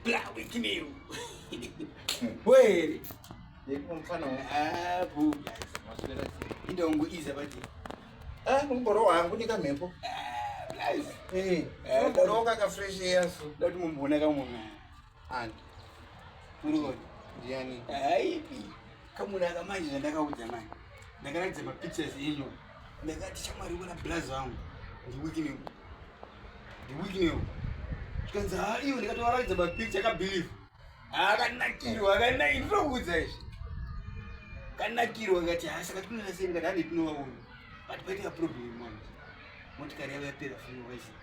Blawikinew. Wait. Yekumfana abu. Indongo iza baje. Ah, mumboro wangu nika mhepo. Ah, nice. Eh, mumboro kaka fresh yesu. Dati mumbona kamwe. Ani. Murikoni. Ndiani. Haipi. Kamunaka manje zvandakaudza manje. Ndakaratidza mapictures enyu. Ndakati shamwari wena blaz wangu. Ndiwikine. Ndiwikine. Zvikanzi haa iwe ndikatovaratidza mapicture akabelieve. Akanakirwa akanakirwa ndinokuudza izvi. Kanakirwa ngati haa saka tinoona sei ngati handi tinovaona. But paita problem manje. Motikari yavo yapera funo waisi.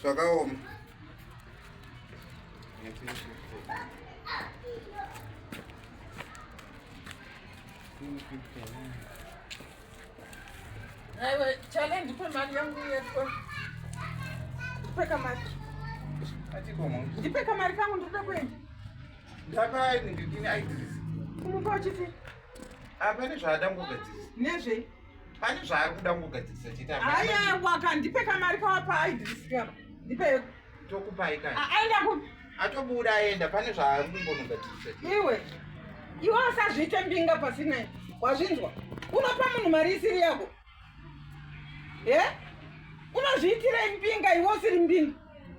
zvakaoma aiwe chale ndipe mari yangu yetwe ndipe kamari ndipe kamari kangu ndikuda kuenda ndakaini ndidini aidhirisi kumupa uchiti hapane zvaadangogadzirisa nezvei pane zvaari kuda kugadzirisa chete aya waka ndipe kamari kawa paai ndirisikapa ndipe tokupai kai aenda ku atobuda aenda pane zvaari kumbonogadzirisa iwe iwe usazviite mbinga pasina wazvinzwa unopa munhu mari isiri yako e unozviitira mbinga iwe usiri mbinga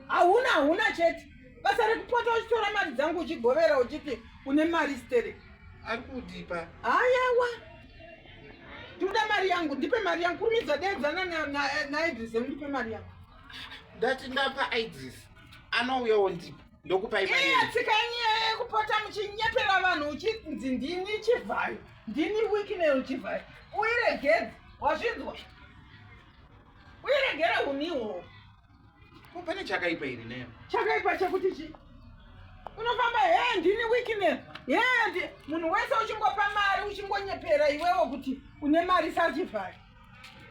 hauna hauna chete basa rekupota uchitora mari dzangu uchigovera uchiti une mari stereki ari kudipa ayawa Ndoda mari yangu, ndipe mari yangu. Kurumidza deedzana na na na Idris, ndipe mari yangu. Ndati ndapa Idris. Anouya wondipa. Ndokupa imari. Iya tsika yenyu kupota muchinyepera vanhu uchinzi ndini chivhayo. Ndini weakness uchivhayo. Uiregedze, wazvinzwa? Uiregere unihwo. Ko pane chakaipa iri nayo. Chakaipa chekuti chi? Unofamba he ndini weakness. He ndi munhu wese uchingopa mari uchingonyepera iwewo kuti une mari sachivhari.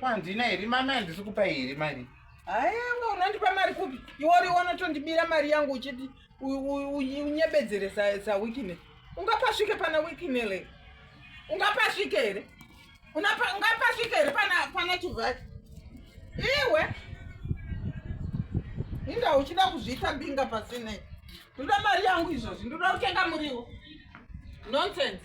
Kwandina iri mama handisi kupa iri mari. Aiwa unandipa mari kupi? Iwori wanotondibira mari yangu uchiti unyebedzere sa sa weakness. Ungapasvike pana weakness. Ungapasvike here? ungapasvika here pana chivhaki iwe inga uchida kuzviita binga pasinei ndoda mari yangu izvozvi ndoda kutenga muriwo nonsense